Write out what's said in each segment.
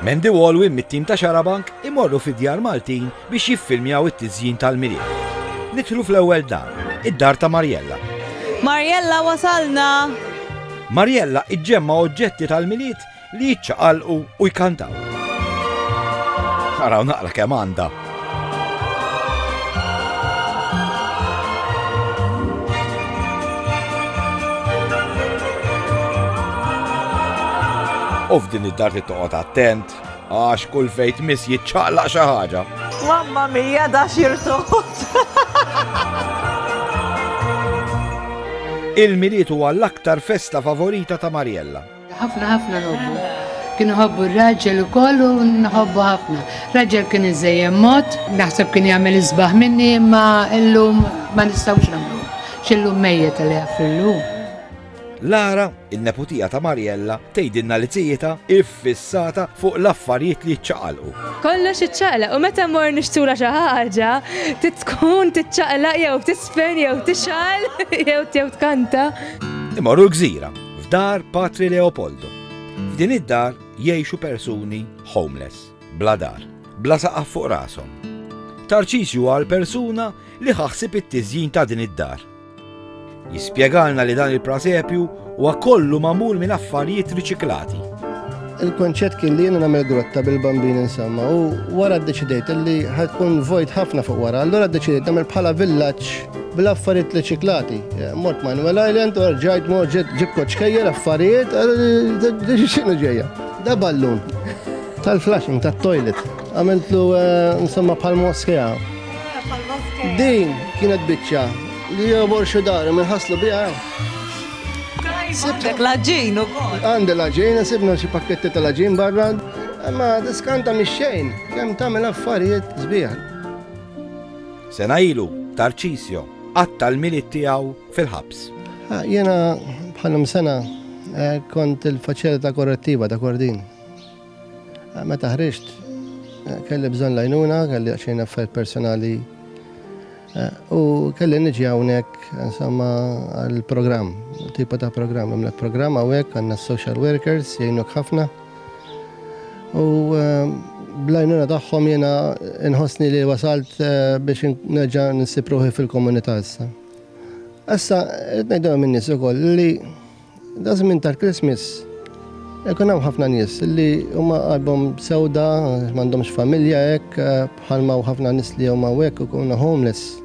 Mandy Walwin mit-tim ta' Xarabank imorru fi djar Maltin biex jiffilmjaw it-tiżjin tal-Milied. Nidħlu fl-ewwel dar, id-dar ta' Marjella. Marjella wasalna! Marjella iġġemma oġġetti tal-Milied li jiċċaqalqu u jkantaw. Araw naqra kemm għandha. U f'din id-dar li toqgħod attent, għax kull fejt mis jiċċaqlaq xi ħaġa. Mamma mija da xirtot. Il-miliet huwa l-aktar festa favorita ta' Mariella. Ħafna ħafna nħobbu. Kien iħobbu r-raġel ukoll u nħobbu ħafna. Raġel kien iżejjem mod, naħseb kien jagħmel isbaħ minni imma illum ma nistgħux nagħmlu. X'illum mejjet li jaffillu. Lara, in-neputija ta' Mariella, tgħidilna li tijitha iffissata fuq l-affarijiet li jiċċaqalqu. Kollox iċċaqlaq u meta mmorru nixtula xi ħaġa, tkun tiċċaqlaq jew tisfen jew tixgħal jew tkanta. Imorru l-gżira F'dar Patri Leopoldo. F'din id-dar jgħixu persuni homeless, bla dar, bla saqaf fuq rashom. Tarċisju huwa l-persuna li ħa ħsieb it-tiżjin ta' din id-dar. Jispjegalna li dan il-prasepju huwa kollu magħmul minn affarijiet riċiklati. Il-konċett kien li jiena nagħmel grotta bil-bambin insomma u wara ddeċidejt li ħadkun vojt ħafna fuq wara, allura ddeċidejt nagħmel bħala villaġġ bil-affarijiet riċiklati. Eh, mort Manuel Island u rġajt mort ġib koċkejjer affarijiet, eh, xinu ġejja. Da ballun tal-flashing, tal-toilet. Għamiltlu eh, insomma bħal moskea. Din kienet biċċa li jobor xi dar minħaslu biha. Sibtek laġin u kol. Għandi laġin, sibna xie pakketti ta' laġin barra, ma diskanta mi xejn, kem tamil affarijiet zbiħan. Sena ilu, Tarċisio, għatta l-milit tijaw fil-ħabs. Ah, jena bħalum sena eh, kont il-faċilita korrettiva ta' Kordin. Ah, meta ħriġt, eh, kelli bżon lajnuna, kelli xejn affarijiet personali U kelli niġi hawnhekk insomma għall-programm, tipa ta' programm, imlek programm hawnhekk għandna social workers jgħinuk ħafna. U ehm, blajnuna tagħhom jiena nħossni li wasalt eh, biex nerġa' nsib ruħi fil-komunità issa. Issa qed ngħidhom min-nies ukoll li Da żmien tal-Christmas Ekun hawn ħafna nies li huma qalbhom sewda, m'għandhomx familja hekk, bħalma u ħafna nies li huma hekk ikunu homeless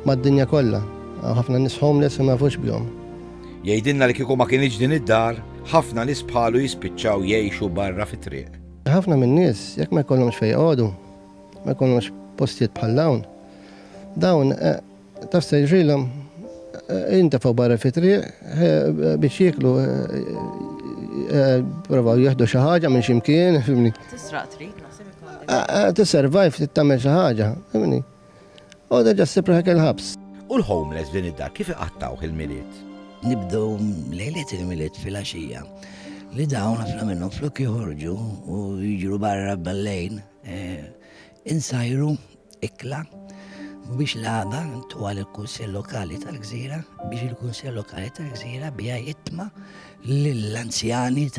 mad-dinja kollha. Ħafna nies homeless u ma jafux bihom. Jgħidilna li kieku ma kienx din id-dar, ħafna nies bħalu jispiċċaw jgħixu barra fit-triq. Ħafna minn nies jekk ma jkollhomx fejn jqogħdu, ma jkollhomx postijiet bħal dawn. Dawn eh, Taf se jiġrilhom? Intefgħu barra fit-triq biex jieklu provaw jieħdu xi ħaġa minn xi mkien, fimni. Tisraq trid, naħseb ikun. Tisservajv trid tagħmel xi ħaġa, fimni. U terġa' ssib ruħek il-ħabs. U l-homeless f'din id-dar kif iqattgħuh il-Milied? Nibdew lejliet il-Milied filgħaxija li dawn ħafna minnhom flok joħorġu u jiġru barra bel-lejl, Insajru ikla biex l-għada ntuha lill-Kunsell Lokali tal-Gżira biex il-Kunsell Lokali tal-Gżira biha jitma lill-anzjani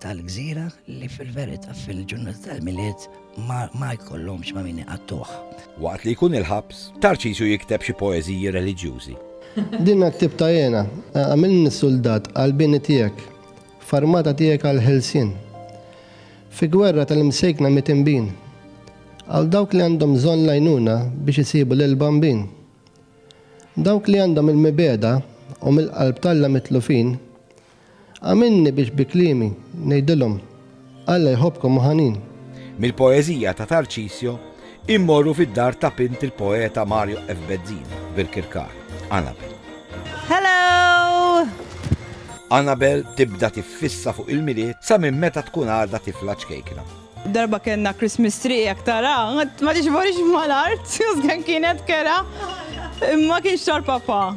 tal-Gżira li fil-verità fil-ġurnata tal-Milied ma jkollhomx ma' min iqattuh. Waqt li jkun il-ħabs, Tarċisju jikteb xi poeżiji reliġjużi. Din għat-tip ta' hena. Agħmilni suldat għall-bini tiegħek, f'armata tiegħek għall-ħelsien. Fi gwerra tal-imsejkna mit-tinbin. Għal dawk li għandhom bżonn l-għajnuna biex isibu lill-Bambin. Dawk li għandhom il-mibegħda u mill-qalb t'Alla mitlufin, Għamilni biex bi kliemi ngħidilhom, Alla jħobbkom u ħanin. Mill-poeżija ta' Tarċisio Immorru fid-dar ta' bint il-poeta Mario F. Bezzina, Birkirkar, Annabel. Hello! Annabel tibda tiffissa fuq il-Milied sa minn meta tkun għadha tifla ċkejkna. Darba kellna Christmas tree jekk tara, ma tixborix mal-art, kien kienet kera, ma kienx tal-papa.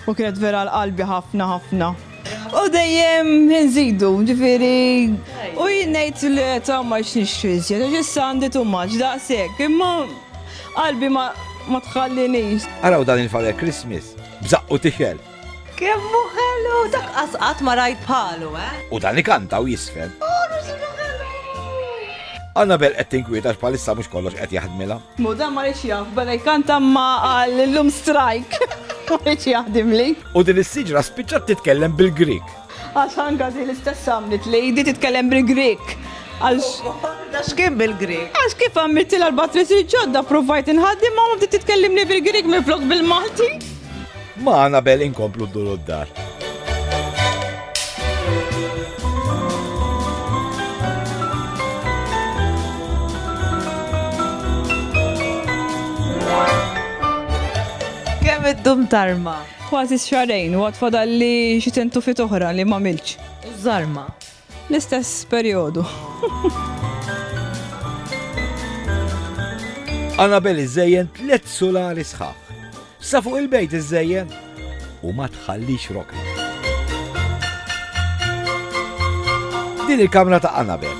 U kienet vera għal qalbi ħafna ħafna. U dejjem nżidu, ġifieri u jien ngħid li ta' ma x'nixtri iżjed, għax issa għandi too much, daqshekk, imma qalbi ma ma tħallinix. Araw dan il-Father Christmas, b'żaqqu tixgħel. Kemm hu ħelu, dak qas qatt ma rajt bħalu, eh! U dan ikanta u jisfen. Annabelle qed tinkwiet għax bħalissa mhux kollox qed jaħdmilha. Mu dan ma riedx jaf, beda jkanta imma qal illum strike, ma riedx jaħdimli. U din is-siġra spiċċat titkellem bil-Grieg. Għax anke din l-istess għamlet lady titkellem bil-Grieg. Għax x'kien bil-Grieg? Għax kif għamiltilha l-batteries il-ġodda provajt inħaddimha u bdiet titkellimni bil-Grieg minflok bil-Malti. Ma' Anabel inkomplu dduru d-dar. Kemm iddum tarma? Kważi xarejn u għad fadalli xi tentufit oħra li m'għamiltx. U żarma? L-istess perjodu. Annabel iżżejjen tliet sulari sħaħ. Sa fuq il-bejt iżżejjen u ma tħallix rokna. Din il-kamra ta' Annabel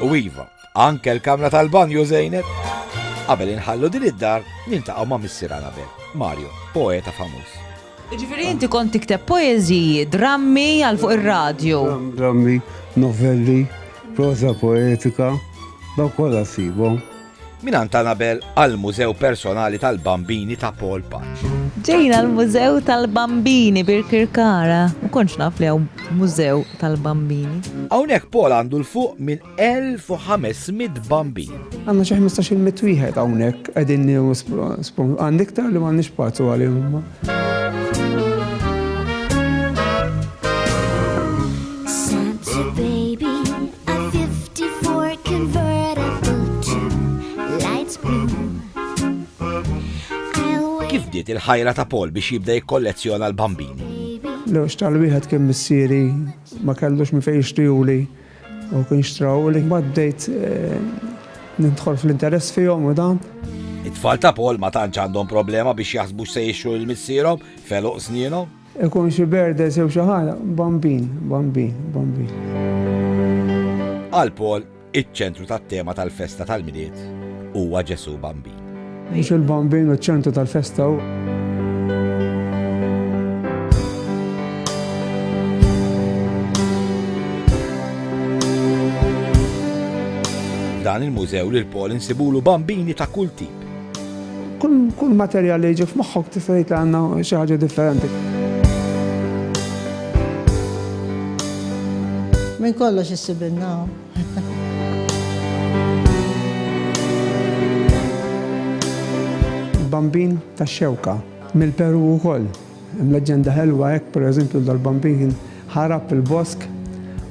u Iva Anke l-kamra tal-banju żejnet. Qabel inħallu din id-dar, niltaqgħu ma' Missier Anabel, Mario, poeta famuż. Ġifieri inti kont tikteb poeżiji, drammi għal fuq ir-radju. Drammi, novelli, prosa poetika, daw kollha sibhom. Minant Anabel għal-Mużew Personali tal-Bambini ta' Paul Patch. Ġejna l-Mużew tal-Bambini Birkirkara. U konċ naf li mużew tal-bambini. Hawnhekk Paul għandu l-fuq minn 1,500 bambin. Għandna xi ħmistax-il mitt wieħed hawnhekk qegħdin nieħu spon. Għandi iktar li m'għandniex pazzu għalihom. Kif diet il-ħajra ta' Paul biex jibda jikkollezzjona l-bambini? L-għax tal-wieħed kien missieri ma kellux mi fejn jixtiju li. U kien xtraw li ma bdejt eh, nidħol fl-interess fihom u dan. It-tfal ta' Paul ma tantx għandhom problema biex jaħsbu se jixxu l-missierhom, feluq snienhom. Ikun xi berde sew xi ħaġa, bambin, bambin, bambin. Għal Paul, iċ-ċentru tat-tema tal-festa tal-milied huwa Ġesu Bambin. Mhux il-Bambin u ċ-ċentru tal-festa u. Dan il-mużew lil Paul insibulu bambini ta' kull tip. Kull materjal li jiġi f'moħħok tista' tgħid li għandna xi ħaġa differenti. Minn kollox issibilna. Bambin ta' xewka, mill-Peru wkoll. Hemm leġġenda ħelwa hekk, pereżempju, dal-bambin ħarab il-bosk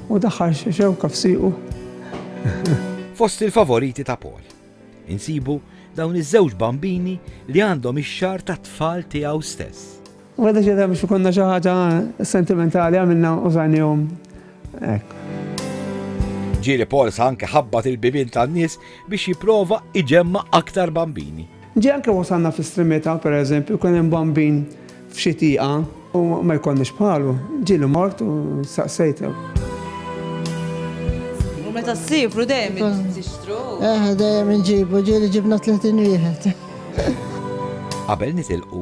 u daħħal xewka f'siequ. Fost il-favoriti ta' Paul, insibu dawn iż-żewġ bambini li għandhom ix-xagħar tat-tfal tiegħu stess. U għadha xejda biex ikunna xi ħaġa sentimentali għamilna użajnihom hekk. Ġieli Pauls anke ħabbat il-bibien tan-nies biex jipprova iġemma' aktar bambini. Ġie anke wasalna fl-estremita, pereżempju, kien hemm bambin f'xi tieqa u ma jkollniex bħalu. Ġieli mort u staqsejt. U meta ssifru dejjem tixtru? Eh, dejjem inġibu, ġieli ġibna 30 wieħed. Qabel nitilqu,